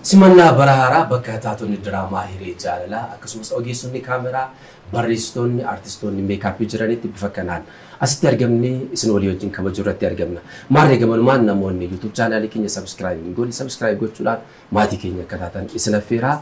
Simannaa bara haaraa bakka taatonni diraamaa Hiree Jaalalaa akkasumas ogeessonni kaameraa, barreessitoonni, artistoonni meekaappii jiranitti bifa kanaan asitti argamnee isin walii wajjin kabajuu irratti argamna. Maarree gamanumaan namoonni YouTube chaanaalii keenya subscribe hin goone subscribe gochuudhaan maatii keenya akka taatan isin affeeraa.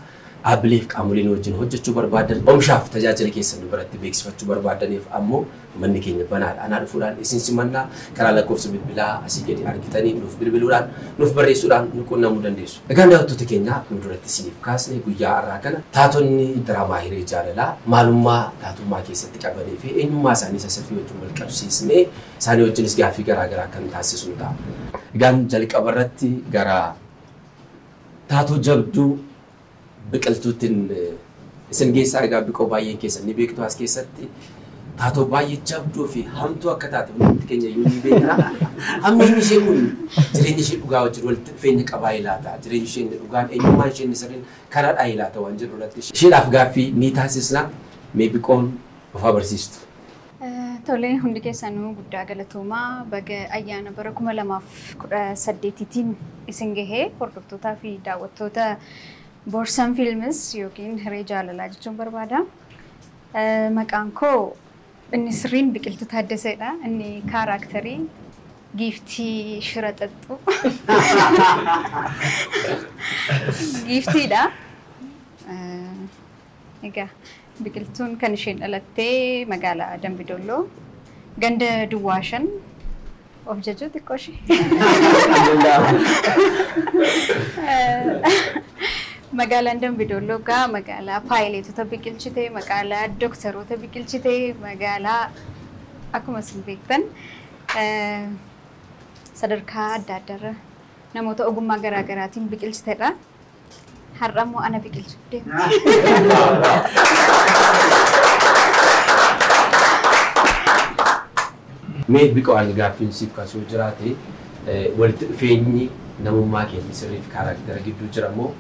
Dhaabbilee fi qaamolee nu wajjin hojjechuu barbaaddan, oomishaa fi tajaajila keessan nu biratti beeksifachuu barbaaddaniif ammoo Manni keenya banaadha. Anaa dhufuudhaan isin simanna. Karaa lakkoofsa bilbilaa asii gadi argitaniin nuuf bilbiluudhaan, nuuf barreessuudhaan nu quunnamuu dandeessu. Egaan daawwattoota keenya akkuma duratti isiniif kaasne guyyaa har'aa kana taatonni diraamaa hiree jaalalaa maalummaa taatummaa keessatti qabanii fi eenyummaa isaanii isa sirrii wajjin wal qabsiisnee isaanii wajjinis gaaffii garaa garaa kan taasisnu ta'a. Egaan jalqaba irratti gara taatoo jabduu Biqiltuuttin isin geessaa argaa biqoo baay'een keessan ni beektu as keessatti taatoo baay'ee jabduu fi hamtuu akka taate hundumti keenya iyyuu ni beekna. Hammeenyi ishee kun jireenya ishee dhugaa wajjin walitti dhufeenya qabaa ilaata. Jireenyi ishee inni dhugaan eenyummaan ishee inni sirriin karaadhaa ilaata waan jedhu irratti isheedhaaf gaaffii ni taasisna. Mee biqoon of haa barsiistu. Tole hundi keessanuu guddaa galatoomaa baga ayyaana bara 2018tiin isin gahee hordoftootaa fi daawwattoota Borsan Films yookiin Hiree Jaalalaa jechuun barbaada. Maqaan koo inni sirriin Biqiltuu Taaddaseedha. Inni kaaraaktarii giiftii shira xaxxu giiftiidha. Egaa biqiltuun kan isheen dhalattee magaalaa Dambi Dolloo ganda duwwaa shan of jajuu xiqqoo ishee. Magaalaan Dambi Dolloo egaa magaalaa paayileetota biqilchite, magaalaa dooktaroota biqilchite, magaalaa akkuma isin beektan eh, sadarkaa adda addaarra namoota ogummaa garaa garaatiin biqilchitedha. Har'a immoo ana biqilchuuf deemti. Mee biqoo ani gaaffiin siif kaasuu jiraate eh, walitti dhufeenyi namummaa keenya sirrii fi kaaraaktera gidduu jira moo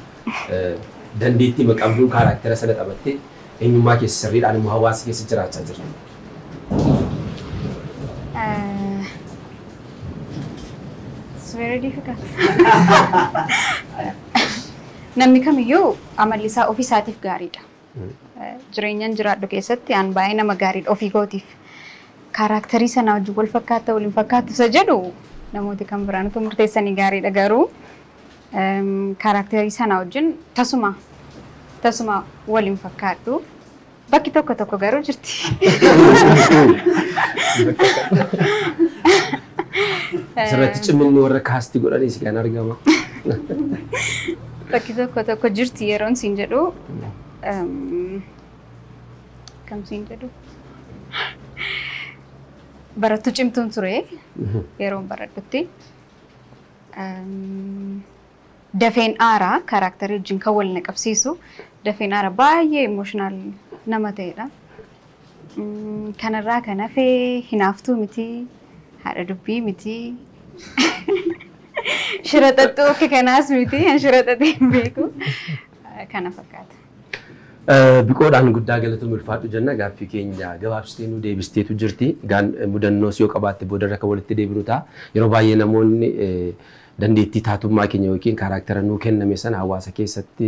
eh, dandeettii maqabduun kaaraaktera sana taphattee eenyummaa keessa sirriidhaan immoo hawaasa keessa jiraachaa jirti. It's very difficult. Namni kamiyyuu amalli isaa ofii isaatiif gaariidha. Eh, Jireenyan jiraadhu keessatti aan baay'ee nama gaariidha ofii kootiif. Kaaraaktarii sanaa wajjin wal fakkaata waliin fakkaatu isa jedhu namooti kan biraan utuu murteessanii gaariidha garuu em, kaaraaktarii sanaa wajjin tasuma tasuma waliin fakkaadhu Bakki tokko tokko garuu jirti. Asirratti cimminni warra kaasti godhanii si kan argama. Bakki tokko tokko jirti yeroon siin jedhu. ehm, Kam siin jedhu? Barattuu cimtuun ture yeroon baradhutti. Ehm, Dafeen aara character wajjin kan wal na qabsiisu dafeen aara baay'ee emotional nama ta'edha. Kanarraa kan hafe hinaaftuu miti, haadha dubbii miti, shira xaxxuu akka kanaas miti, an shira xaxee hin beeku. Kana fakkaata. Biqoodhaan guddaa galatoom ulfaadhu jenna gaaffii keenya gabaabsitee nu deebisteetu jirti. Gaan mudannoos yoo qabaatte boodarra kan walitti deebinu ta'a. Yeroo baay'ee namoonni Dandeettii taatummaa keenya ykn kaaraaktera nuu kenname sana hawaasa keessatti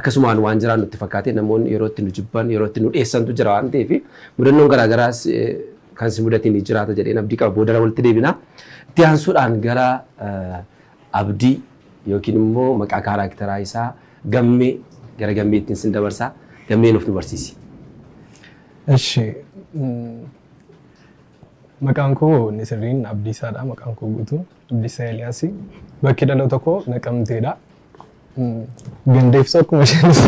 akkasumaan waan jiraannu itti fakkaatee namoonni yeroo itti nu jibban, yeroo itti nu dheessantu jira waan ta'eef mudannoon garaa garaas kan si mudate ni jiraata jedheen abdii qaba. Boodarra walitti deebina. Itti aansuudhaan gara Abdii ykn immoo maqaa kaaraakteraa isaa Gammee gara Gammeettiin sin dabarsa. Gammee nuuf nu barsiisi. Eshi. Maqaan koo inni sirriin Abdiisaadha maqaan koo guutuun. Abdisaa Eliyaas. Bakki dhaloota koo Naqamteedha. Ganda ibsu akkuma isheenis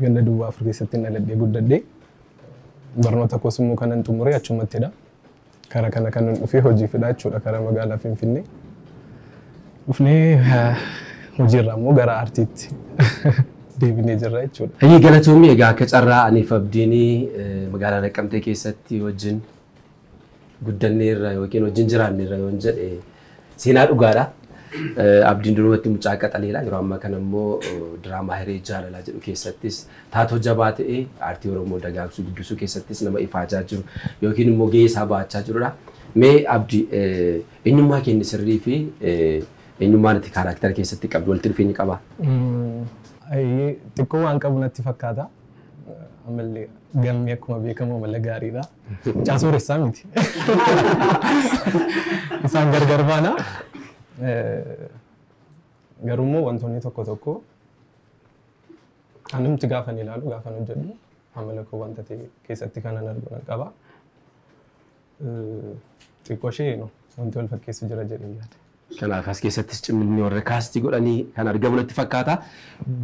ganda duwwaa afur keessatti dhaladhee guddadhe. Barnoota koos immoo kanan xumure achumattidha. Karaa kana kanan dhufe hojiifidha jechuudha karaa magaalaa Finfinnee. Dhufnee hojiirraa immoo gara aartiitti deebinee jirra jechuudha. Hayyee galatoomii egaa akka carraa aniif abdiinii magaalaa Naqqamtee keessatti wajjin guddanneerra yookiin wajjin jiraanneerra yoon jedhe seenaa dhugaadha. Eh, Abdiin durumatti mucaa qaxaleedha. Yeroo ammaa kana immoo eh, diraamaa hiree jaalalaa jedhu keessattis taatoo jabaa ta'e aartii Oromoo dagaagsuu guddisuu keessattis nama ifaajaa jiru yookiin immoo gahee isaa bahachaa jirudha. Mee Abdi eh, eenyummaa keenya sirrii fi eh, eenyummaan itti kaaraaktara keessatti qabdu walitti dhufeenya qabaa? Mm, ayyee, xiqqoo waan qabu natti fakkaata. Ammallee galmee akkuma beekamu amala gaariidha. Mucaa sooressaa miti. Isaan gargar baana. Eh, Garuu immoo wantoonni tokko tokko anumti gaafan ilaalu gaafan hojjedhu amala koo wanta ta'e keessatti kanan argu nan qaba. Eh, Xiqqoo ishee no, wanti wal fakkeessu jira jedhee yaada. Kanaaf as keessattis cimminni warra kaastii godhanii kan argamu natti fakkaata.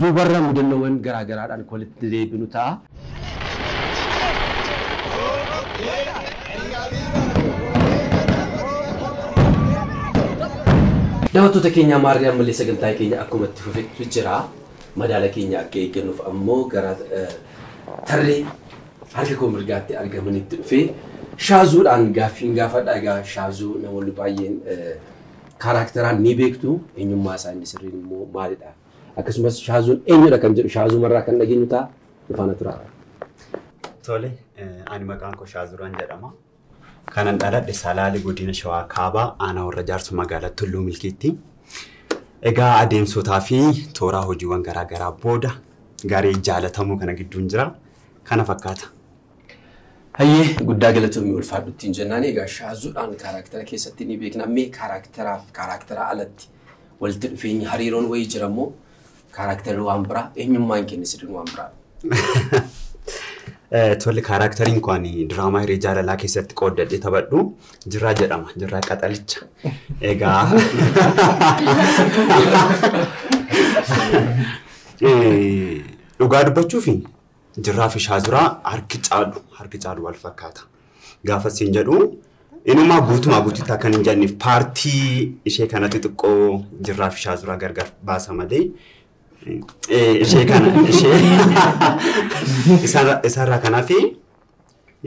Duubarra mudannoowwan garaa garaadhaan kan walitti deebinu ta'a. Daawwattoota keenya maarree ammallee sagantaan keenya akkuma itti fufetti jira. Madaala keenya akka eeggannuuf ammoo gara tarree harka koo mirgaatti argamanitti dhufee shaazuudhaan gaaffiin gaafadha. Egaa shaazuu namoonni baay'een eh, kaaraakteraan ni beektu eenyummaa isaa inni sirriin immoo maalidha. Akkasumas shaazuun eenyudha kan jedhu shaazuumarraa kan dhageenyu ta'a. Nufaana turaa. Tole, eh, ani maqaan koo Shaazuraan jedhama. Kanan dhaladhe Salaale Godina Shawaa Kaabaa Aanaa Warra Jaarso Magaalaa Tulluu Milkiitti. Egaa adeemsotaa fi tooraa hojiiwwan garaa garaa booda garee jaalatamoo kana gidduun jira. Kana fakkaata. Hayyee guddaa galatoomi ulfaadhu ittiin jennaan egaa shaazuudhaan kaaraaktera keessatti ni beekna mee kaaraakteraaf kaaraaktera alatti walitti dhufeenyi hariiroon wayii jira immoo Kaaraaktarri waan biraa, eenyummaan keenya sidin waan biraa. Eh, Tole kaaraakteriin koo ani diraamaa hiree jaalalaa keessatti qooddadhee taphadhu jirraa jedhama jirraa qaxalicha egaa Eh, dhugaa dubbachuufi Jirraa fi shaazuraa harki caalu harki caalu wal fakkaata. Gaafa siin jedhu inumaa guutumaa guututti akkan hin jedhaniif paartii ishee kana xixiqqoo jirraa fi shaazuraa gargar baasa malee eh, ishee kana ishee isarra- isarraa kanaaf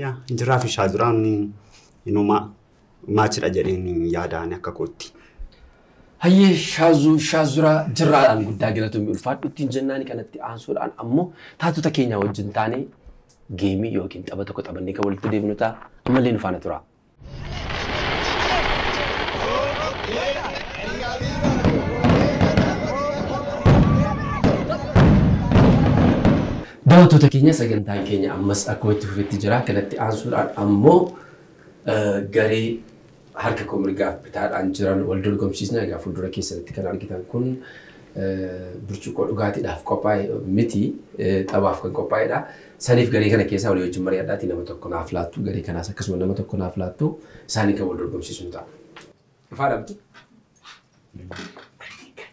yaa jirraa fi shaazuraan inumaa match dha jedheen yaada ani akka kootti. Hayyee Shaazu Shaazuraa Jirraadhaan guddaa galatomi ulfaadhu ittiin jennaani kanatti aansuudhaan ammoo taatota keenyaa wajjin taanee geemii yookiin tapha tokko taphannee kan walitti deebinu ta'a ammallee nu faana turaa. Daawwattoota keenya sagantaan keenya ammas akkuma itti fufetti jira kanatti aansuudhaan ammoo garee harka koo mirgaaf bitaadhaan jiran wal dorgomsiisna. Egaa fuuldura keessanitti kan argitan kun burcuqqoo dhugaatiidhaaf qophaa'e miti taphaaf kan qophaa'edha. Saniif garee kana keessaa walii wajjin mari'adhaatii nama tokko naaf laattu garee kanaas akkasuma nama tokko naaf laattu isaanii kan wal dorgomsiisu ta'a. Dhufaa dhabdi.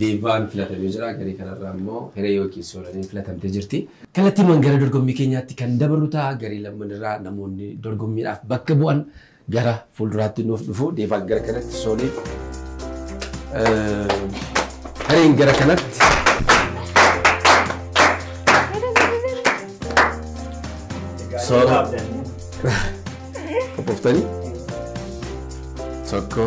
Deevaan filatamee jira. Garee kanarraa immoo Hiree yookiin Soolaniin filatamtee jirti. Kallattiimaan gara dorgommii keenyaatti kan dabarru ta'a. Garee lamman irraa namoonni dorgommiidhaaf bakka bu'an gara fuulduraatti nuuf dhufu. Deevaan gara kanatti, Sooliin Hireen gara kanatti. Soolaa. Qophoftanii? Tokko.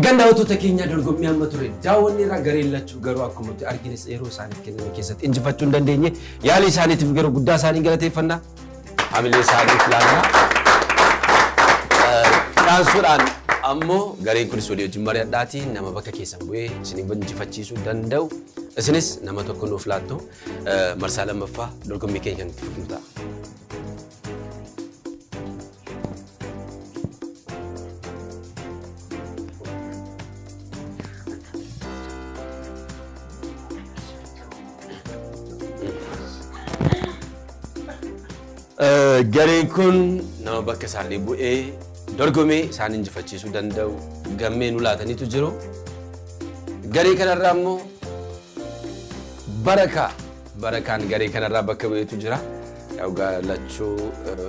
Egaan daawwattoota keenya dorgommii amma ture daawwanni irra gareen lachuu garuu akkuma nuti argines yeroo isaaniif kenname keessatti injifachuu hin dandeenye yaalii isaaniitiif garuu guddaa isaanii galateeffannaa. hamilee isaanii filaannaa. Dhaansuudhaan ammoo gareen kunis walii wajjin mari'adhaatii nama bakka keessan bu'ee isin injifachiisuu danda'u isinis nama tokko nuuf laattu marsaa lammaffaa dorgommii keenya kan itti fufnu ta'a. Eh, Gareen kun nama bakka isaanii bu'ee dorgomee isaan injifachiisuu danda'u gammee nu laataniitu jiru. Garee kanarraa immoo barakaa barakaan garee kanarraa bakka bu'eetu jira. Yaa Dhugaa lachuu eh,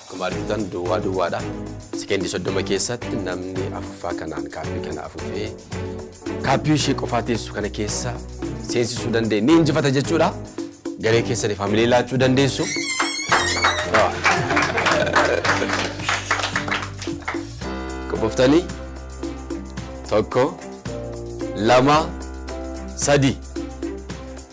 Akkuma argitan duwwaa duwwaadha. Sekendii 30 keessatti namni afuuffaa kanaan kaappii kana afuufee kaappii ishee qofaa teessu kana keessa seensisuu danda'e ni injifata jechuudha. Garee keessaniif hamilee laachuu dandeessu. Qophoftanii tokko lama sadii.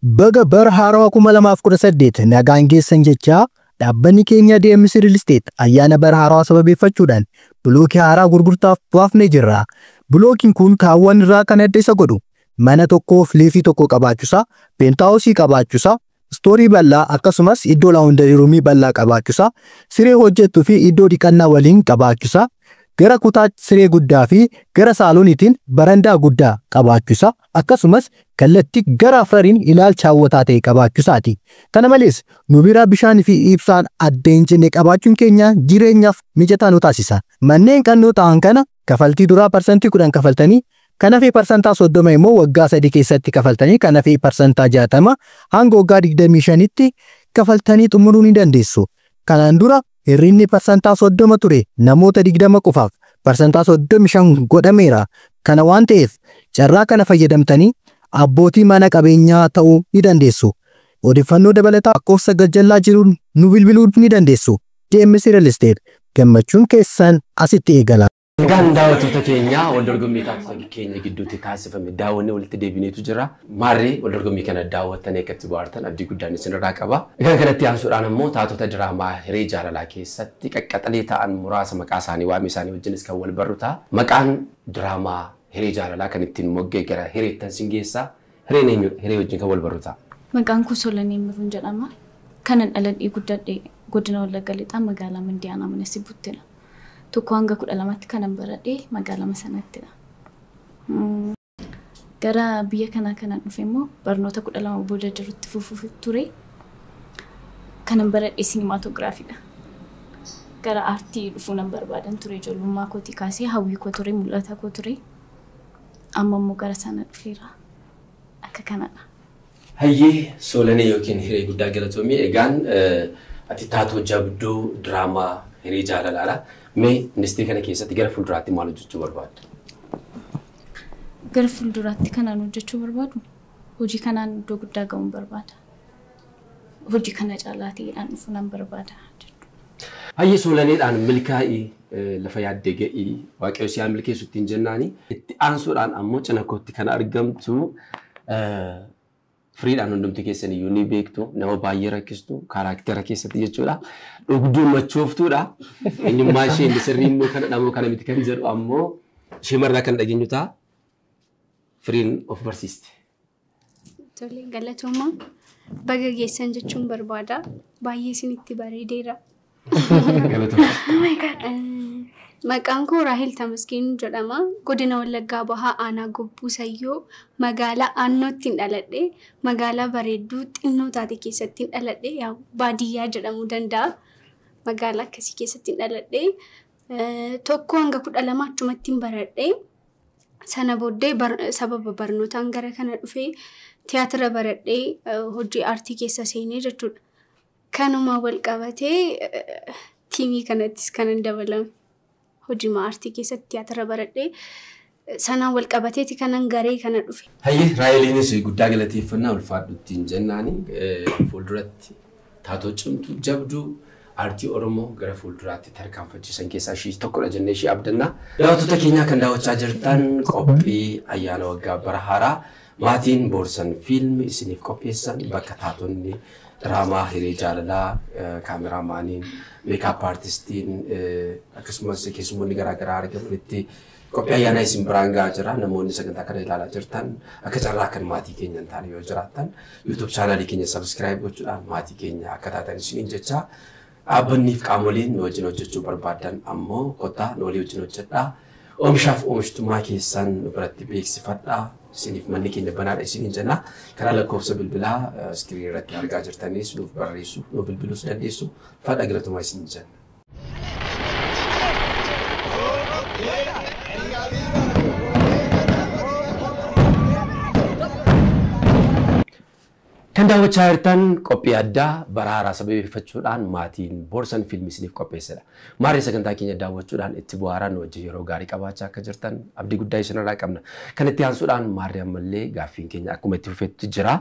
Baga bara haarawa 2018 nagaan geessan jechaa, dhaabbanni keenya DMC Real Estate ayyaana bara haarawa sababeeffachuudhaan bilookii haaraa gurgurtaaf baafnee jirra. Bilookiin kun kaawwan irraa kan adda isa godhu mana tokko fleetii tokko qabaachuusaa, peentaawusii qabaachuusaa, istoorii bal'aa akkasumas iddoo laawundarii ruumii bal'aa qabaachuusaa, siree hojjettu fi iddoo dhiqannaa waliin qabaachuusaa, gara kutaa siree guddaa fi gara saalooniitiin barandaa guddaa qabaachuusaa, akkasumas kallatti gara afrariin ilaalcha hawwataa ta'e qabaachusaati. Kana malees, nu bira bishaan fi ibsaan adda hin cinne qabaachuun keenya jireenyaaf mijataa nu taasisa. Manneen qannoo ta'an kana kafaltii duraa parsantii 10 kafaltanii kan hafe parsantaa 30 immoo waggaa 3 keessatti kafaltanii kan hafe parsantaa 60 hanga waggaa 25tti kafaltanii xumuruu ni dandeessu. Kanaan dura Hir'inni parsantaa 30 ture namoota 20 qofaaf parsantaa 35 godhameera. Kana waan ta'eef carraa kana fayyadamtanii abbootii mana qabeenyaa ta'uu ni dandeessu. Odeffannoo dabalataa lakkoofsa gajjallaa jiruun nu bilbiluu ni dandeessu. DMC Real Estate, gammachuun keessan asitti eegala. Egaan daawwattoota keenya wal dorgommii taatota keenya gidduutti taasifame daawwannee walitti deebineetu jira. Maarree wal dorgommii kana daawwattanii akka itti bohaartan abdii guddaan isinirraa qaba. Egaan kanatti aansuudhaan ammoo taatota diraamaa hiree jaalalaa keessatti qaqqaxalee ta'an muraasa maqaa isaanii waame isaanii wajjinis kan wal barru ta'a. Maqaan diraamaa hiree jaalalaa kan ittiin mogga'e gara hireettan sin geessa. Hireen eenyudha? Hiree wajjin kan walbarru ta'a. Maqaan koo Solanee Immiruun jedhama. Kanan dhaladhee guddadhe Godina Wallagga Lixaa Magaalaa Mandii Aanaa Mana Sibbuttidha. Tokkoo hanga 12tti kanan baradhe magaalama sanattidha. Gara biyya kanaa kanan dhufe immoo barnoota 12 booda jirutti fufuuf ture. Kanan baradhe sinimaatogiraafiidha. Gara aartii dhufuu nan barbaadan ture ijoollummaa kootii kaasee hawwii koo ture mul'ata koo ture. Amma immoo gara sana dhufeera. Akka kanadha. Hayyee Soolanee yookiin Hiree guddaa galatoomii egaan ati taatoo jabduu diraamaa Hiree jaalalaadha. Mee industrii kana keessatti gara fuulduraatti maal hojjechuu barbaaddu? Gara fuulduraatti kanaan hojjechuu barbaadu hojii kanaan iddoo guddaa ga'uun barbaada. hojii kana caalaa ta'eedhaan dhufu nan barbaada jedhu. Hayye Soolanedhaan milkaa'i lafa yaadde ga'i waaqayyo si haa milkeessu ittiin jennaani. Itti aansuudhaan ammoo cina kootti kan argamtu firiidhaan hundumti keessan iyyuu ni beektu nama baay'ee rakkistu kaaraaktera keessatti jechuudha. Dhugduu machooftuudha. Eenyummaa ishee inni sirrii immoo kana dhamoo kana miti kan jedhu ammoo ishee marraa kan dhageenyu ta'a. Firiin of barsiiste. Tole galatoomaa baga geessan jechuun barbaada. Baay'ee isinitti bareedeera. Maqaan koo Raahel Tamasgeen jedhama. Godina Wallaggaa Bahaa Aanaa Gobbuu Sayyoo magaalaa Aannootti hin dhaladhe. Magaalaa bareedduu xinnoo taate keessatti hin dhaladhe. Yaa baadiyyaa jedhamuu danda'a. Magaalaa akkasii keessatti hin dhaladhe. Eh, Tokko hanga kudha lama achumatti hin baradhe. Sana booddee sababa barnootaan gara kana dhufee tiyaatira baradhee hojii aartii keessa seenee jechuudha. Kanuma wal qabatee tiimii kanattis kanan dabalame. Hojii aartii keessatti tiyaatira baradhee sanaan wal qabateeti kanan garee kana dhufe. Hayyee Raaheliinis guddaa galateeffannaa ulfaadhu ittiin jennaani fuulduratti Taatoo cimtuu, jabduu aartii Oromoo gara fuulduraatti tarkaanfachiisan keessaa ishii tokkodha jennee ishii abdanna. Daawwattoota keenyaa kan daawwachaa jirtan qophii ayyaana waggaa bara haaraa maatiin Boorsan Fiilm isiniif qopheessan bakka taatonni diraamaa hiree jaalalaa kaameraamaaniin meekaap aartistiin akkasumas keessummoonni garaagaraa argamanitti Qophii ayyaanaa isin biraan gahaa jira. Namoonni sagantaa kana ilaalaa jirtan akka carraa kan maatii keenya hin taane yoo jiraattan YouTube chaanaalii keenya sabiskiraayib gochuudhaan maatii keenya akka taatan isiniin jechaa dhaabbanniif qaamoleen nu wajjin hojjechuu barbaadan ammoo kottaa nu walii wajjin hojjedhaa. Oomishaaf oomishtummaa keessan nu biratti beeksifadhaa. Isiniif manni keenya banaadha isiniin jenna. Karaa lakkoofsa bilbilaa iskiriinii irratti argaa jirtanis nuuf barreessu, nu bilbiluus dandeessu. Fadha galatomaa isiniin jenna. Kan daawwachaa jirtan qophii addaa bara haaraa sababeeffachuudhaan maatiin Boorsan Fiilmii isiniif qopheessedha. Maarree sagantaa keenya daawwachuudhaan itti bu'aaraa nu wajjin yeroo gaarii qabaachaa akka jirtan abdii guddaa isinirraa qabna. Kan itti aansuudhaan maarree ammallee gaaffiin keenya akkuma itti fufetti jira.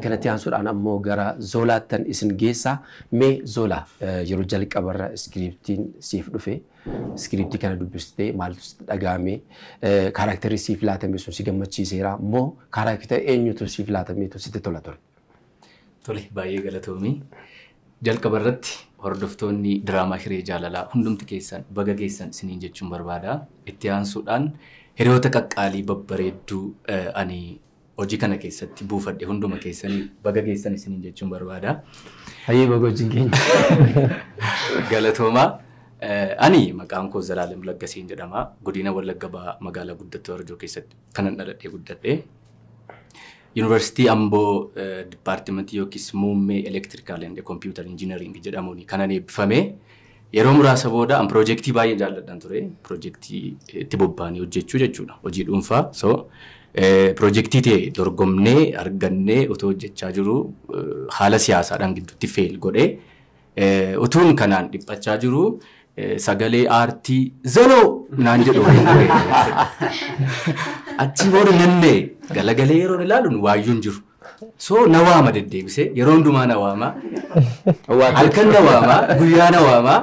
Kan itti aansuudhaan ammoo gara Zoolaattan isin geessa. Mee Zola yeroo jalqabarra iskiriiptiin siif dhufe iskiriiptii kana dubbistee maaltu sitti dhaga'ame kaaraakterri siif laatame sun si gammachiiseera moo kaaraakter eenyutu siif laatameetu sitti tola ture? Tole baay'ee galatoomii. Jalqaba irratti hordoftoonni diraamaa Hiree Jaalalaa hundumti keessan baga geessan isiniin jechuun barbaada. Itti aansuudhaan hiriyoota qaqqaalii babbareedduu ani hojii kana keessatti buufadhe hunduma keessanii baga geessan isiniin jechuun barbaada. Hayyee baga wajjin keenya. Galatoomaa. Eh, Ani maqaan koo Zalaalam Laggasiin jedhama. Godina Wallagga Bahaa magaalaa guddattuu Arjoo keessatti kanan dhaladhee guddadhe. Yuunivarsiitii Amboo eh, dipaartimentii yookiis muummee elektirikaal and kompiitar injinariingi jedhamuun kanan eebbifame. Yeroo muraasa booda an pirojektii baay'ee jaalladhan ture. Pirojektii itti bobbaanii hojjechuu jechuudha. Hojii dhuunfaa. So pirojektii ta'e dorgomnee argannee otoo hojjechaa jiru haala siyaasaadhaan gidduutti feel godhe. Utuun kanaan dhiphachaa jiru sagalee aartii zaloo naan jedhu waliin ture. Achii booda nannee galagalee yeroon ilaaluun waayyuun jiru. So na waama deddeebisee yeroo hundumaa na waama. Halkan na waama guyyaa na waama.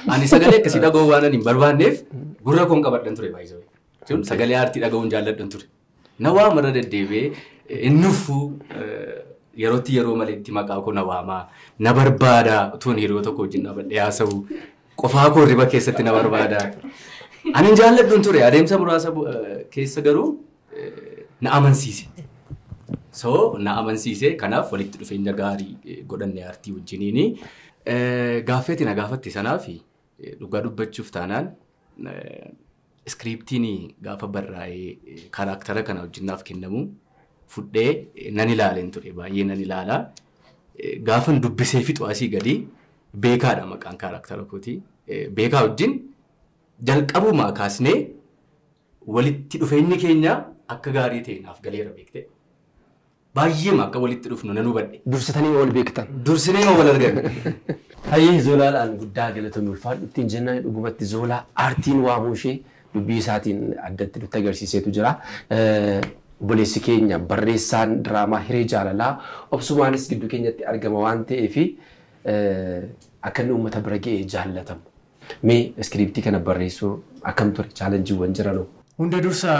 Ani sagalee akkasii dhaga'uu waan ani hin barbaanneef gurra koon qabadhan ture baay'isawee. Jechuun sagalee aartii dhaga'uun jaalladhan ture. Na waama irra deddeebi'ee hin nuffuu yerootti yeroo maleetti maqaa koo na waama. Na barbaada utuun hiriyoota tokko wajjin dhaabadhee haasa'u. Qofaa koo hirriba keessatti na barbaada. Ani hin jaalladhu hin ture adeemsa muraasa bu- eh, keessa garuu na amansiise. So na amansiise kanaaf walitti dhufeenya gaarii eh, godhanne aartii wajjiniini. Eh, Gaaffeeti na gaafatte sanaaf eh, dhugaa dubbachuuf taanaan eh, iskiriiptiin gaafa barraa'ee eh, karaaktara kana wajjin naaf kennamu fudhee eh, nan ilaaleen ture baay'ee nan ilaala. Eh, Gaafan dubbisee fixu asii gadi beekaadha maqaan karaaktara kooti. Eh, Beekaa wajjin jalqabumaa kaasnee Walitti dhufeenyi keenya akka gaarii ta'e naaf galeera beektee? Baay'eema akka walitti dhufnu nan hubadhe. Dursitanii ma wal beektan? Dursinee ma wal arganne? Hayyee Zoolaadhaan guddaa galatomi ulfaadhu ittiin jennaani dhugumatti Zoolaa aartiin waamuu ishee dubbii isaatiin addatti nutti agarsiiseetu jira. Obboleessi keenya barreessaan diraamaa Hiree Jaalalaa obsumaanis gidduu keenyatti argama waan ta'eef akka inni uummata bira ga'ee jaallatamu Mee iskiriiptii kana barreessuu akkam ture? Chaalenjiiwwan jiranoo? Hunda dursa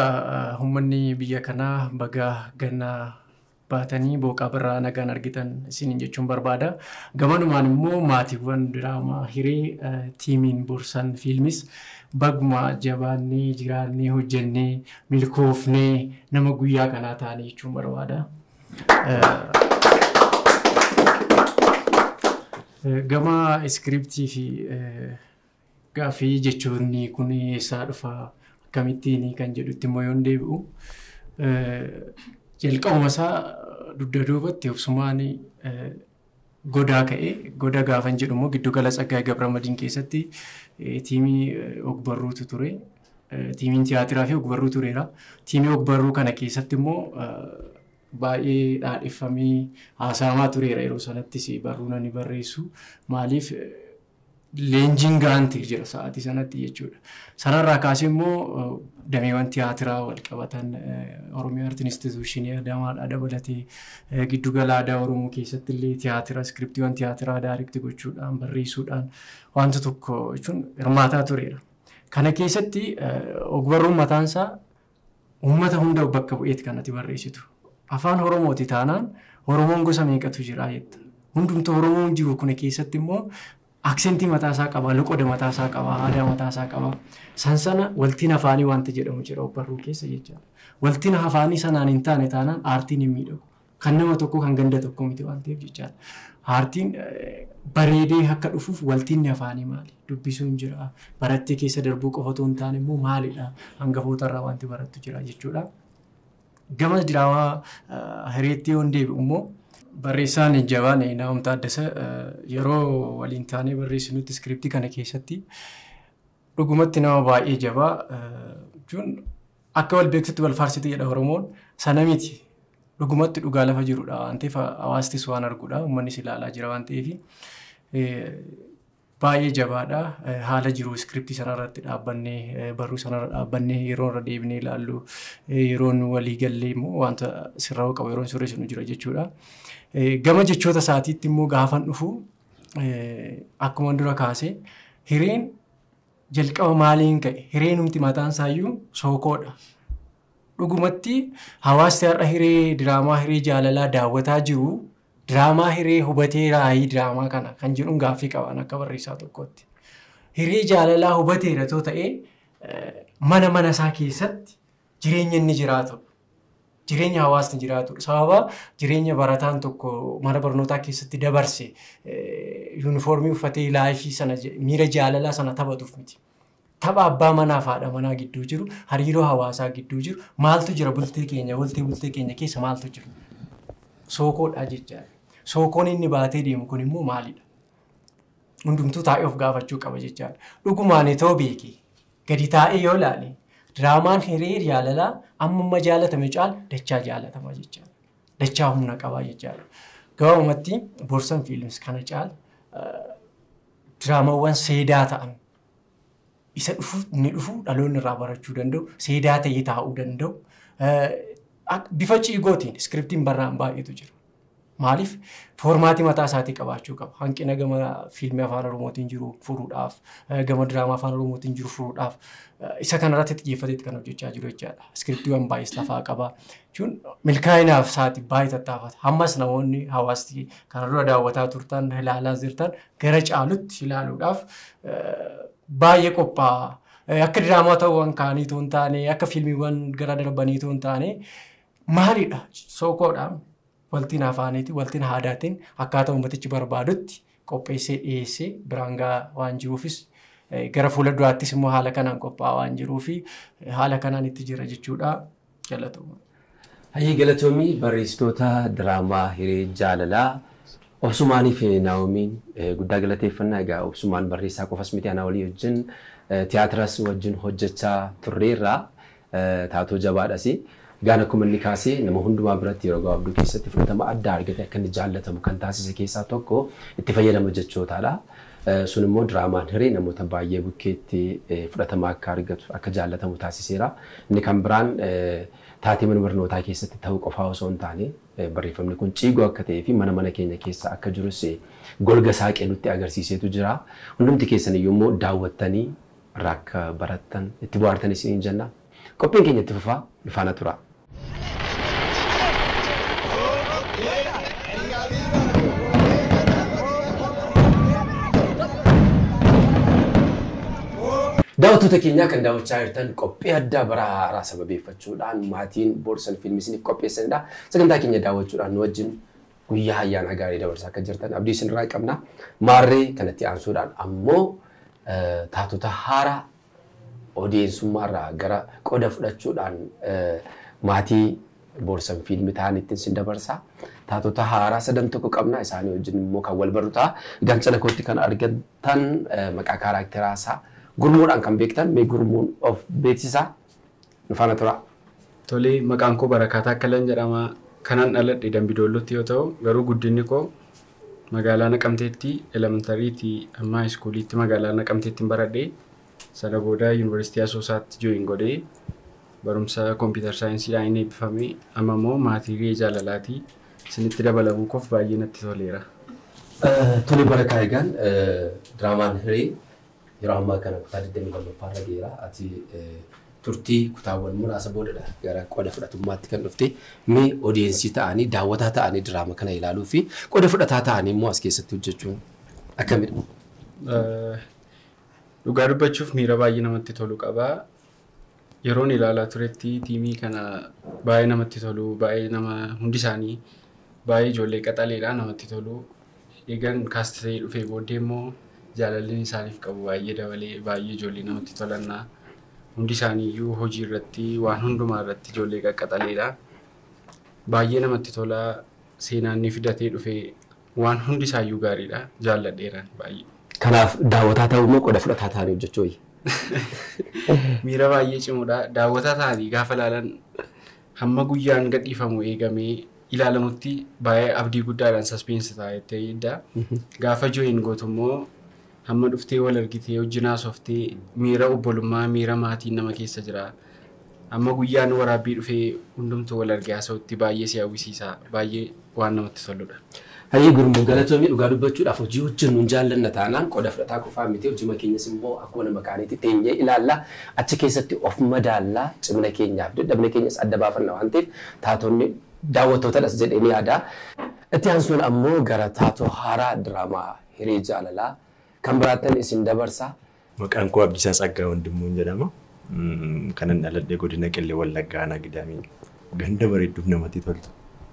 ummanni biyya kanaa baga ganna baatanii booqaa birraa nagaan argitan isiniin jechuun barbaada. Gamanumaan immoo maatiiwwan diraamaa hiree tiimiin borsan fiilmis baguma jabaannee jiraannee hojjennee milkoofnee nama guyyaa kanaa taane jechuun barbaada. Gama iskiriiptii fi gaaffii jechoonni kun eessaa dhufa akkamittiin kan jedhutti immoo yoon deebi'u jalqabuma isaa dugda duubatti obsumaan Godaa ka'e. Goda gaafan jedhu immoo giddugala Tsaggaay Gabramadiin keessatti tiimii ogbarruutu ture. Tiimiin tiyaatiraa fi ogbarruu tureera. Tiimii ogbarruu kana keessatti immoo baay'ee dhaadheffamee haasa'amaa tureera yeroo sanattis barruun ani barreessu. Maaliif leenjiin gahaan ta'e jira sa'aatii sanatti jechuudha. Sanarraa kaasee immoo dameewwan tiyaatiraa wal qabatan Oromiyaa Artiin Instituushinii Adaamaadhaa dabalatee giddugala aadaa Oromoo keessatti illee tiyaatira iskiriptiiwwan tiyaatiraa daarikti gochuudhaan barreessuudhaan wanta tokko jechuun hirmaataa tureera. Kana keessatti ogbarruun mataansaa Ummata hunda of bakka bu'eeti kan ati barreessitu. Afaan Oromooti taanaan Oromoon gosa meeqatu jira jetta. Hundumtuu Oromoon jiru kuna keessatti immoo aksentii mataa isaa qaba, loqoda mataa isaa qaba, aadaa mataa isaa qaba. San sana waltiin afaanii waanti jedhamu jira ogbarruu keessa jechaadha. Waltiin afaanii sanaan hin taane taanaan aartiin hin miidhagu. Kan nama tokkoo kan ganda tokkoo miti waan ta'eef jechaadha. Haartiin bareedee akka dhufuuf waltinni afaanii maali? Dubbisuun jira. Barattee keessa darbuu qofa otoo hin taane immoo maalidha? Hangafoota irraa wanti barattu jira jechuudha. Gama diraamaa hireetti yoon deebi'u immoo barreessaan jabaan Naa'om Taaddasa yeroo waliin taanee barreessinutti iskiriiptii kana keessatti dhugumatti nama baay'ee jabaa jechuun Akka wal beektutti wal faarsiti jedha Oromoon. Sana miti. Dhugumatti dhugaa lafa jirudha waan ta'eef hawaastis waan arguudha. Uummannis ilaalaa jira waan ta'eef baay'ee jabaadha. Haala jiru iskiriptii sana irratti dhaabbannee barruu sana irra dhaabbannee yeroo irra deebinee ilaallu yeroo nu walii gallee immoo wanta sirraa'uu qabu yeroo sirreessinu jira jechuudha. Gama jechoota isaatiitti immoo gaafan dhufu akkuma dura kaase hireen Jalqaba maaliin ka'e? Hireenumti mataansaayyuu sookoodha. Dhugumatti hawaasti har'a hiree diraamaa hiree jaalalaa daawwataa jiru diraamaa hiree hubatee raayii diraamaa kana kan jedhuun gaaffii qabaan akka barreessaa tokkootti. Hiree jaalalaa hubateera too ta'ee mana mana isaa keessatti jireenya inni jiraatudha. Jireenya hawaasni jiraatudha. Sababa jireenya barataan tokko mana barnootaa keessatti dabarse yuunifoormii uffatee laayifii sana miira jaalalaa sana taphatuuf miti. Tapha abbaa manaa fi haadha manaa gidduu jiru, hariiroo hawaasaa gidduu jiru, maaltu jira bultee keenya, waltee bultee keenya keessa maaltu jiru? Sookoodha jechaadha. Sookoon inni baatee deemu kun immoo maalidha? Hundumtuu taa'ee of gaafachuu qaba jechaadha. Dhugumaan itoo beekee Gadi taa'ee yoo ilaale diraamaan hiree jaalalaa ammamma jaalatame caal dachaa jaalatama jechaadha. Dachaa humna qabaa jechaadha. Gabaabumatti Borsan Films kana caal diraamawwan seedaa ta'an isa dhufu inni dhufu dhaloonni irraa barachuu danda'u seedaa ta'ee taa'uu danda'u Akka bifa ciigootiin iskiriptiin barraa'an baay'eetu jira. Maaliif foormaatii mataa isaatii qabaachuu qaba. Hanqina gama fiilmii afaan Oromootiin jiru furuudhaaf, gama diraamaa afaan Oromootiin jiru furuudhaaf isa kanarratti xiyyeeffateetti kan hojjechaa jiru jechaadha. Iskiriptiiwwan baay'ees lafaa qaba. Jechuun milkaa'inaaf isaati baay'ee tattaafata. Ammas namoonni hawaasti kana dura daawwataa turtan, ilaalaa jirtan gara caalutti ilaaluudhaaf baay'ee qophaa'aa. Akka diraamaatawwan kaanii utuu hin taane, akka fiilmiiwwan gara darbanii utuu hin taane, maalidha? Sookoodhaan waltiin afaaniitiin, waltiin aadaatiin akkaataa uummatichi barbaadutti qopheessee dhiyeessee biraan gahaa waan jiruufis gara fuula duraattis immoo haala kanaan qophaa'aa waan jiruufi haala kanaan itti jira jechuudha. Galatoomaa. Hayyee galatoomii barreessitoota diraamaa hiree jaalalaa Obsumaanii fi Naa'omiin eh, guddaa galateeffannaa egaa Obsumaan barreessaa qofas miti anaa walii wajjin eh, tiyaatiras wajjin hojjechaa turreerraa eh, taatoo jabaadhasi. Egaan akkuma inni kaasee nama hundumaa biratti yeroo gabaabduu keessatti fudhatama addaa argate akka inni jaallatamu kan taasise keessaa tokko itti fayyadama jechootaadha. Sun immoo diraamaan hiree namoota baayyee bukkeetti fudhatama akka argatu, akka jaallatamu taasiseera. Inni kan biraan taatee mana barnootaa keessatti ta'uu qofaa osoo hin taane barreeffamni kun ciigoo akka ta'ee fi mana mana keenya keessa akka jirus golga saaqee nutti agarsiiseetu jira. Hundumti keessan iyyuu immoo daawwattanii irraa akka barattan, itti bohaartanis isiniin jenna. Qophiin keenya itti fufa nu faana turaa. Daawwattoota keenyaa kan daawwachaa jirtan qophii addaa bara haaraa sababeeffachuudhaan maatiin Boorsan Fiilmii isiniif qopheessanidha. Sagantaa keenya daawwachuudhaan nu wajjin guyyaa ayyaanaa gaarii dabarsaa akka jirtan abdii isinirraa qabna. Maarree kanatti aansuudhaan ammoo taatota haaraa Odeensummaarraa gara qoda fudhachuudhaan maatii Borsan Film ta'anittin sin dabarsa. Taatota haaraa sadan tokko qabna. Isaanii wajjin immoo kan wal barru ta'a. Gaachana kootti kan argattan maqaa kaaraakteraasaa gurmuudhaan kan beektan mee gurmuun of beeksisaa Nu faana turaa. Tole, maqaan koo Barakaa Taakkalan jedhama. Kanan dhaladhe Dambi Doollootti yoo ta'u, garuu guddinni koo magaalaa Naqamteetti, Elementary ti amma High School tti magaalaa Naqamteettin baradhe. Sana booda University Asoosaatti join godhe. Barumsa Computer Science dhaanin eebbifame. Amma immoo maatii Hiriyee Jaalalaati. Isinitti dabalamuu koof baay'ee natti toleera. Tole Barakaa, egaan diraamaan Hiree Yeroo ammaa kana kutaa 22ffaa irra geera. Ati turtii kutaawwan muraasa boodadha gara qoda fudhatummaatti kan dhufte. Mee odeensii ta'anii, daawwataa ta'anii diraama kana ilaaluu fi qoda fudhataa ta'anii immoo as keessatti hojjechuun akkamidha? Dhugaa dubbachuuf miira baay'ee namatti tolu qaba. Yeroon ilaalaa turetti tiimii kana baay'ee namatti tolu. Baay'ee nama hundi isaanii baay'ee ijoollee qaxaleedha namatti tolu. Eegan kaasti ta'ee dhufee booddee immoo jaalalleen isaaniif qabu baay'ee dabalee baay'ee ijoollee namatti tolanna. Hundi isaanii iyyuu hojii irratti waan hundumaa irratti ijoollee qaqqaxaleedha. Baay'ee namatti tola seenaan ni fidatee dhufee Waan hundi isaayyuu gaariidha. Jaalladheeraan baay'ee. Kanaaf daawwataa ta'uu moo qoda fudhataa ta'anii hojjechuu wayya? Miira baay'ee cimoodha. Daawwataa ta'anii gaafa ilaalan hamma guyyaan gadhiifamu eegamee ilaalamutti baay'ee abdii guddaadhaan suspense ta'a jettee eegda. Gaafa join gootu immoo Amma dhuftee wal argitee wajjin haasoftee miira obbolummaa, miira maatiin nama keessa jira. Amma guyyaan waraabbii dhufee hundumtuu wal argee haasa'utti baay'ee si hawwisiisa. Baay'ee waan namatti toludha. Hayyee Gurmuu galatoomi dhugaa dubbachuudhaaf hojii hojjennu hin jaallanna taanaan qoda fudhataa qofaa miti hojima keenyas immoo akkuma nama kaaniitti teenyee ilaalla achi keessatti of madaalla cimina keenyaaf dadhabina keenyas adda baafanna waan ta'eef taatonni daawwattootadhas jedheen yaada. Itti aansuun ammoo gara taatoo haaraa diraamaa hiree jaalalaa kan biraattan isin dabarsa. Maqaan koo Abdiisaa Tsaggaa Wandimmuun jedhama. Kanan dhaladhe godina Qellem Wallaggaa aanaa Gidaamii ganda bareedduuf namatti toltu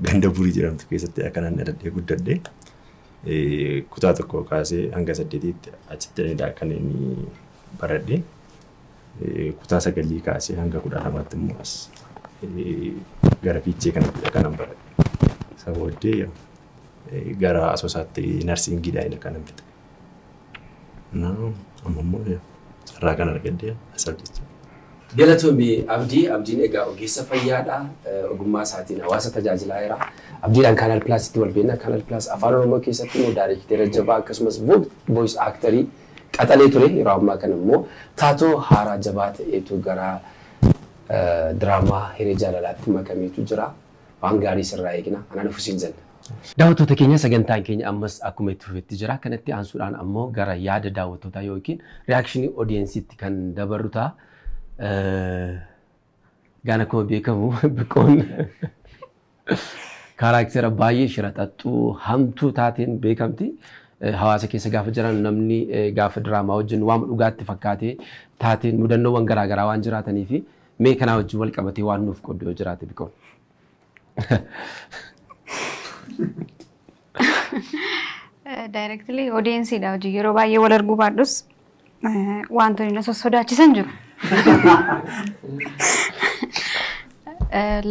ganda Burii jedhamtu keessattidha kanan dhaladhee guddadhe. Kutaa tokkoo kaasee hanga saddeetiitti achittidha kan inni baradhe. kutaa sagalii kaasee hanga kudha lamaatti immoo as gara fiichee kanattidha kanan baradhe. Isa booddee gara asoosaatti narsiingiidhaan kanan fixe. Amma immoo carraa kan argadde asaaf jecha. Galatoomi Abdii. Abdiin egaa ogeessa fayyaadha. Ogummaa isaatiin hawaasa tajaajilaa jira. Abdiidhaan Kaanaal Pilaasitti wal beekna. Kaanaal Pilaas Afaan Oromoo keessatti immoo daayreekteera jabaa akkasumas voice actorii qaxalee ture yeroo ammaa kana immoo taatoo haaraa jabaa ta'eetu gara diraamaa hiree jaalalaatti makameetu jira. Waan gaarii sirraa eegna. Anaa dhufu siin jenna. Daawwattoota keenya sagantaan keenya ammas akkuma itti fufetti jira. Kanatti aansuudhaan ammoo gara yaada daawwattootaa yookiin reakshinii odiyensiitti kan dabarru ta'a. Gaan akkuma beekamu biqoon kaaraaktera baay'ee shiraxaxxuu hamtuu taateen beekamti. Eh, Hawaasa keessa gaafa jiran namni eh, gaafa diraamaa wajjin waan dhugaatti fakkaatee taateen mudannoowwan garaagaraa waan jiraatanii fi mee kanaa wajjin wal qabatee waan nuuf qoddu yoo jiraate biqoon. Daayirektilii odeensiidha hojii yeroo baay'ee wal arguu baadhus wantoonni na sossodaachisan jiru.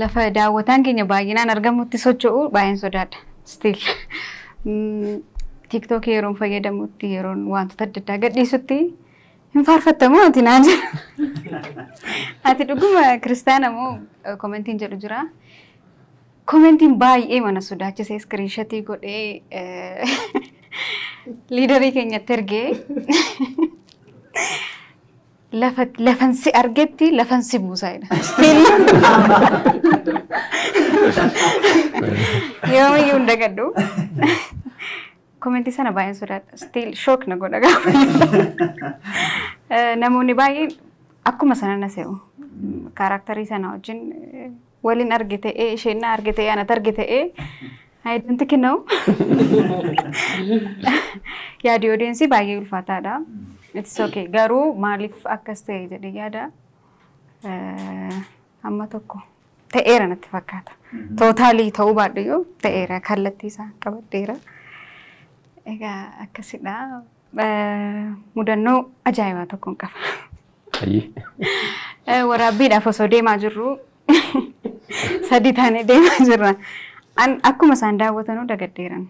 Lafa daawwataan keenya baay'inaan argamutti socho'u baay'een sodaadha. Still tiktookii yeroon fayyadamutti yeroon wantoota adda addaa gadhiisutti Hin faarfatta moo ati naan jedha. Ati dhuguma kiristaana moo eh, komentiin jedhu jira. Komentiin baay'ee mana sodaachisee iskiriinshatii godhee eh, liidarii keenyatti ergee lafa lafan si argetti lafan si buusaa jedha. Yoomiyyuu hin dagadhu. Komentii sana baay'een sodaadha. Still shock na godha gaafa. Eh, Namoonni baay'een akkuma sana na se'u. Kaaraaktarii sana wajjin eh, waliin arge ta'ee isheen na arge ta'ee anat arge ta'ee I don't know. Yaadi odeensii baay'ee ulfaataadha. It's okay. Garuu maaliif akkas ta'e jedhee yaada. Eh, Amma tokko ta'eera natti fakkaata. Tootaalii ta'uu baadhayyuu ta'eera kallattii isaa qabadheera. Egaa akkasidha. Eh, Mudannoo ajaa'ibaa tokkoon qaba. Ayyii. Eh, Waraabbiidhaaf osoo deemaa jirru sadii taanee deemaa jirra. An akkuma isaan daawwatanuu dagaddeeran.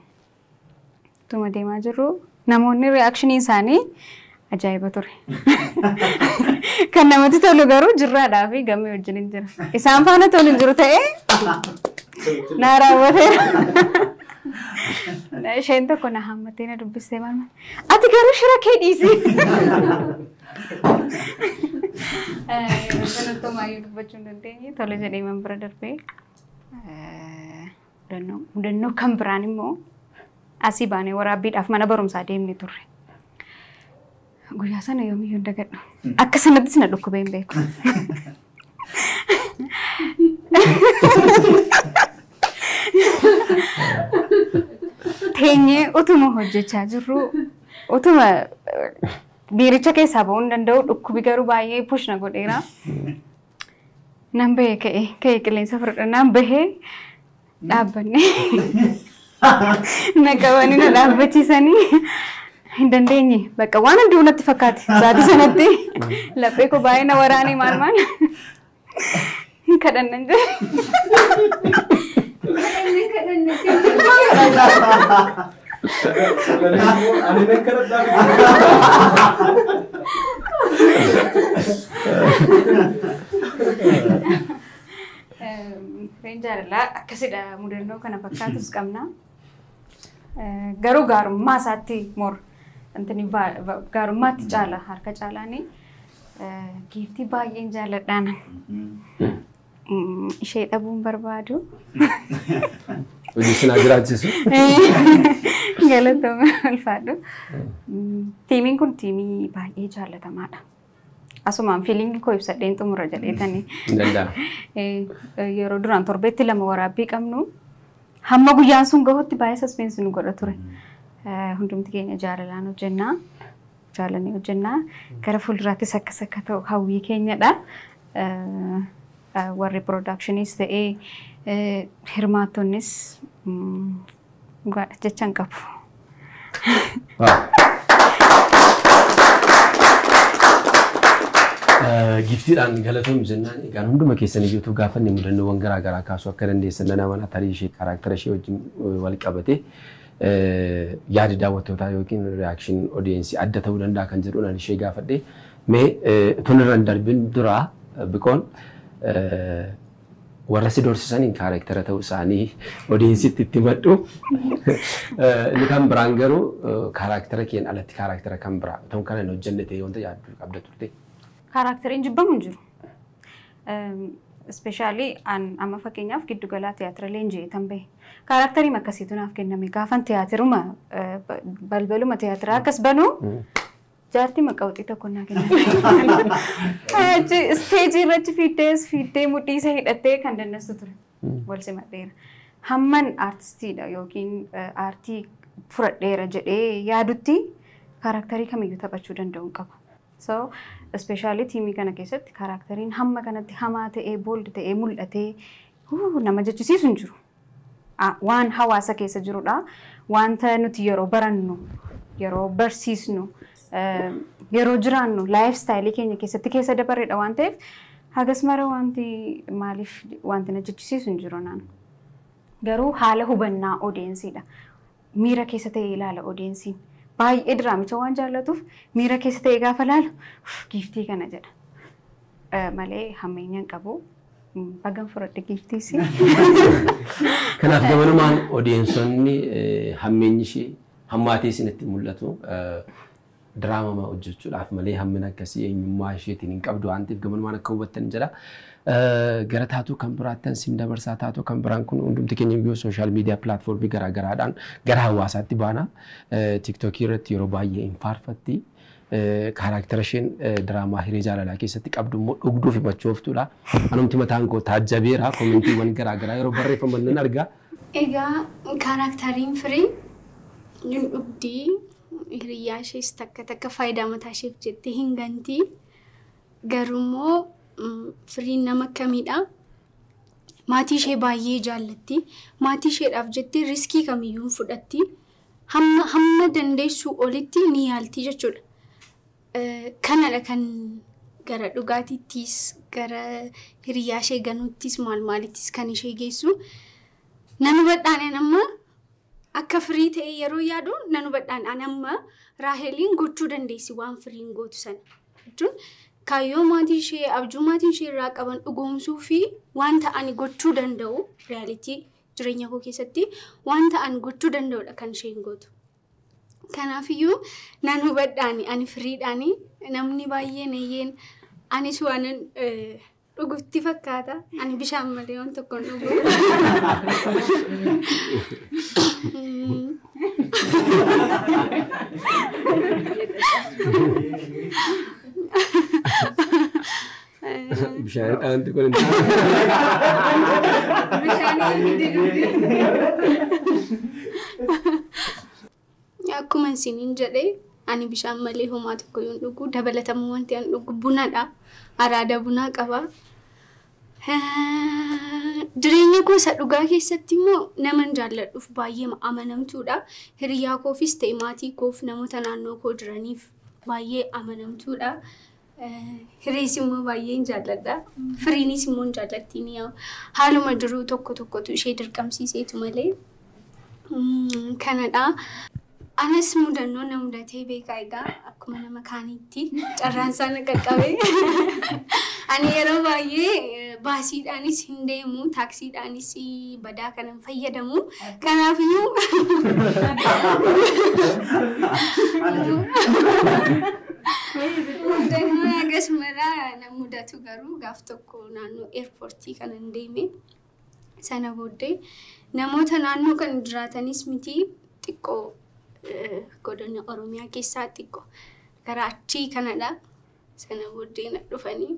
Tuma deemaa jirru namoonni reaction isaanii ajaa'iba ture. Kan namatti tolu garuu jirraadhaa fi gammee wajjin hin jira. Isaan faana tolu hin jiru ta'ee naa raawwateera. Isheen tokko na hammattee na dubbistee maama. Ati garuu shira kee dhiisi. Kanattumaa yoo dubbachuu hin dandeenye tole jedhee man bira darbee. Mudannoo mudannoo kan biraan immoo asii baanee waraabbiidhaaf mana barumsaa deemne turre. Guyyaa sana yoomiyyuu hin dagadhu. Akka sanattis na dhukkubee hin beeku. Teenyee utuma hojjechaa jirru utuma eh, biiricha keessaa ba'uu hin danda'u dhukkubi garuu baay'ee push na godheera. Nan bahee ka'e ka'e qilleensa fudhadha nan bahee dhaabbanne na qabanii na dhaabbachiisanii hin dandeenye bakka waan hunduu natti fakkaate sa'aatii sanatti laphee koo baay'ee na waraanee maal maal hin kadhannan jira. Kadhanne kadhanne. Reen jaalalaa akkasidha mudannoo kana fakkaatus qabna. Garuu gaarummaa isaatti mor intini gaarummaatti caala harka caalaani giiftii baay'een jaalladhaan. Mm, Ishee dhabuun barbaadu. Hojii isin haa jiraachisu. Galatooma ulfaadhu. Mm, Tiimiin kun tiimii baay'ee jaallatamaadha. Asumaan fiiliingii koo ibsadheen xumura jedheetanii. Hin danda'amu. Eh, eh, yeroo duraan torbeetti lama waraabbii qabnu hamma guyyaan sun gahutti baay'ee saspeensi nu godha ture. Eh, Hundumti keenya jaalalaan hojjennaa. jaalannee hojjenna. Gara fuulduraattis akkas akka ta'u hawwii keenyadha. Warri piroodaakshiniis ta'ee hirmaattonnis dhugaadha jecha hin qabu. Giftiidhaan galatoom jennaan egaan hunduma keessan iyyuu gaafanne mudannoowwan garaa garaa kaasuu akka dandeessan nan amana tarii ishee kaaraaktara ishee wajjin wal qabatee yaadi daawwattootaa yookiin reaction audience adda ta'uu danda'a kan jedhuun ani ishee gaafadhe. Mee utuun irra hin darbin dura biqoon warra si doorsisaniin kaarektara ta'uu isaanii audiencetti itti madhu. Inni kan biraan garuu kaarektara keen alatti kaarektara kan biraa utuun kana hin hojjenne ta'e wanta yaaddu qabda turte. Kaarakteriin jibbamu hin jiru. Ispeeshaalii an amma fakkeenyaaf giddu galaa tiyaatira leenji'ee tan bahe. Kaaraaktarii akkasiitu naaf kenname. Gaafan tiyaatiruma eh, ba- balbaluma tiyaatiraa akkas banu jaartii maqawxii tokko naa kenname. Achi isteejii irratti fiiddees fiiddee mudhiisa hidhattee kan dandeessu ture. wal simadheera. Hamman aartistiidha yookiin aartii furadheera jedhee yaadutti kaaraaktarii kamiyyuu taphachuu danda'u hin qabu. So, ispeeshaalii tiimii kana keessatti kaaraaktariin hamma kanatti hamaa ta'ee, booldi ta'ee, mul'atee nama jechisiisu hin jiru. Waan hawaasa keessa jirudha. Wanta nuti yeroo barannu, yeroo barsiisnu, yeroo jiraannu laayif istaayilii keenya keessatti keessa dabarreedha waan ta'eef hagas mara wanti maaliif wanti na jechisiisu hin jiru naan. Garuu haala hubannaa odeensiidha. Miira keessa ta'ee ilaala odeensiin. Baay'ee diraamicha waan jaallatuuf miira keessa ta'ee gaafa ilaalu giiftii kana jedha. Malee hammeenya hin qabu. Bagan fudhadhe giiftiisi. Kanaaf gamanumaan odeensonni hammeenyi ishee Hammaatee isinitti mul'atu diraamama hojjechuudhaaf malee hammina akkasii eenyummaa isheetiin hin qabdu waan ta'eef gamanumaan akka hubattan jedha. Gara taatoo kan biraattan sin dabarsaa taatoo kan biraan kun hundumti keenya iyyuu sooshaal miidiyaa pilaatfoormii garaa garaadhaan gara hawaasaatti baana. Tiiktookii irratti yeroo baay'ee hin faarfatti. Kaaraaktara isheen diraamaa hiree jaalalaa keessatti qabdu immoo dhugduuf himachuu oftudha. Anumti mataan koo taajjabeera koomentiiwwan garaa garaa yeroo barreeffaman nan arga. Egaa kaaraaktariin Firee hin dhugdi, hiriyyaa ishees takka takka faayidaa mataa isheef jettee hin ganti. Garuu immoo Firiin nama akkamiidha? Maatii ishee baay'ee jaallatti. Maatii isheedhaaf jettee riskii kamiyyuu hin fudhatti. Hamma hamma dandeessuu olitti ni yaalti jechuudha. Kanadha kan gara dhugaatiittis gara hiriyaa ishee ganuuttis maal maalittis kan ishee geessu. Nan hubadhaan an amma akka firii ta'e yeroo yaadu nan hubadhaan an amma Raaheliin gochuu dandeessi waan firiin gootu sana. Jechuun kaayyoo maatii ishee abjuu maatii ishee irraa qaban dhugoomsuu fi waan ta'an gochuu danda'u riyaalitii jireenya koo keessatti waan ta'an gochuu danda'udha kan isheen gootu. Kanaafiyyuu nan hubadhaani ani firiidhaani namni baay'een eeyyeen anis waanan eh, dhugutti fakkaata ani bishaan malee waan tokko hin dhugu. Mm. Bishaan dhaanti kun hin Bishaanii didugdi. Akkuma isiniin jedhee ani bishaan malee homaa tokko yoon dhugu dabalatamu wanti an dhugu bunadha. Araada bunaa qaba. Jireenya koo isa dhugaa keessatti immoo naman jaalladhuuf baay'ee amanamtuudha. Hiriyaa koofis ta'e maatii koof namoota naannoo koo jiraniif baay'ee amanamtuudha. Hirrees immoo baay'een jaalladha. Firiinis immoo hin jaallattiin yaa'u. Haaluma jiruu tokko tokkotu ishee dirqamsiiseetu malee. Mm, Kanadha. Anas mudannoo na mudatee beekaa egaa akkuma nama kaaniitti carraan isaa na qaqqabe. Ani yeroo baay'ee eh, baasiidhaanis hin deemu, taaksiidhaanis badaa kana fayyadamu. Kanaafiyyuu mudannoo hagas maraa na mudatu garuu gaaf tokko naannoo eerpoortii kanan deeme sana booddee namoota naannoo kan jiraatanis miti xiqqoo eh, godina Oromiyaa keessaa xiqqoo gara achii kanadha. Sana booddee na dhufanii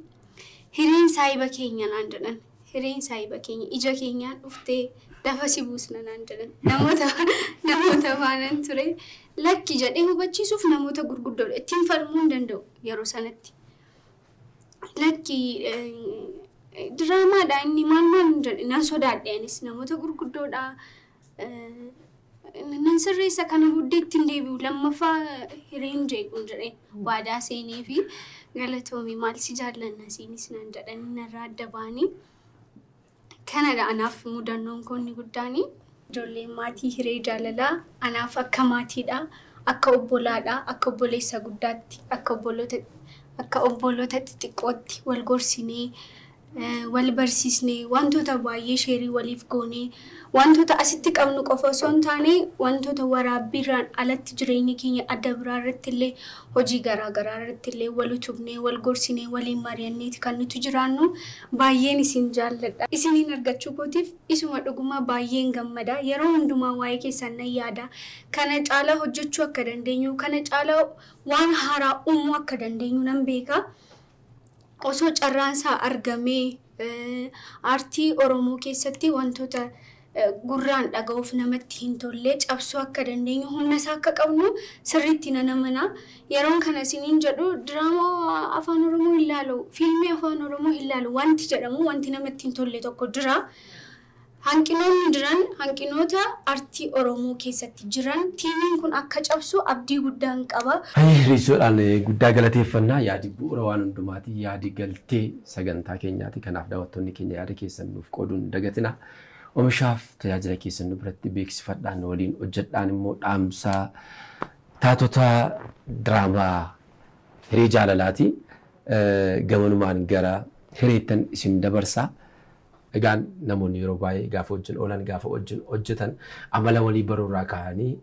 hireen saahiba keenya naan jedhan. Hireen saahiba keenya ija keenyaan dhuftee lafa si buusna naan jedhan. Namoota namoota faanan ture lakki jedhee hubachiisuuf namoota gurguddoodha. Ittiin falmuu hin danda'u yeroo sanatti. Lakki diraamaadha inni maal maal hin jedhe nan sodaadhe anis namoota gurguddoodha. Nan sirreessa kana booddee ittiin deebi'u lammaffaa hireen jeequun jedhee waadaa seenee fi galatoomii maal si jaallanna siinis naan jedhanii narraa adda ba'anii kanadha anaaf mudannoon koonni guddaanii. Ijoolleen maatii hiree jaalalaa anaaf akka maatiidha akka obbolaadha akka obboleessa guddaatti akka obboloota akka obboloota xixiqqootti wal gorsinee wal barsiisne, wantoota baay'ee sheerii waliif goone, wantoota asitti qabnu qofa osoo hin taane wantoota waraabbiirraan alatti jireenya keenya adda biraa irrattillee hojii garaa garaa irrattillee wal utubnee, wal gorsinee, waliin mari'anneeti kan nuti jiraannu. Baay'een isin jaalladha. Isiniin argachuu kootiif isuma dhugumaa baay'een gammada. Yeroo hundumaa waa'ee keessaan nan yaada. Kana caalaa hojjechuu akka dandeenyu, kana caalaa waan haaraa uumuu akka dandeenyu nan beeka. osoo carraan isaa argamee aartii Oromoo keessatti wantoota gurraan dhaga'uuf namatti hin tolle cabsuu akka dandeenyu humna isaa akka qabnu sirriitti nan amana. Yeroon kana isiniin jedhu diraamaa afaan Oromoo hin laalu, fiilmii afaan Oromoo hin laalu wanti jedhamu wanti namatti hin tolle tokko jira. Hanqinoonni jiran hanqinoota artii Oromoo keessatti jiran tiimiin kun akka cabsu abdii guddaan qaba. Hayyee Riissoodhaan guddaa galateeffanna. Yaadi bu'uura waan hundumaati. Yaadi galtee sagantaa keenyaati. Kanaaf daawwattoonni keenya yaada keessan nuuf qooduu hin dagatinaa. Omishaaf tajaajila keessan nu biratti beeksifadhaa, nu waliin hojjedhaan immoo dhaamsa taatota diraamaa Hiree Jaalalaati. Gamanumaan gara hireettan isin dabarsa. Egaan namoonni yeroo baay'ee gaafa wajjin oolan, gaafa wajjin hojjetan amala walii baruu irraa ka'anii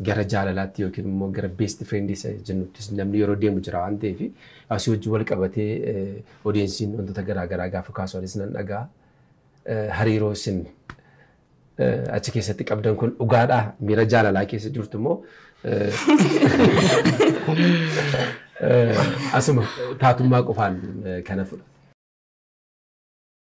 gara jaalalaatti yookiin immoo gara best friend isa jennuttis namni yeroo deemu jira waan ta'eef asii wajjin wal qabatee odeessiin wantoota garaa garaa gaafa kaasu anis nan dhagaa hariiroo isin achi keessatti qabdan kun dhugaadha miira jaalalaa keessa jirtu immoo asuma taatummaa qofaan kana fudha.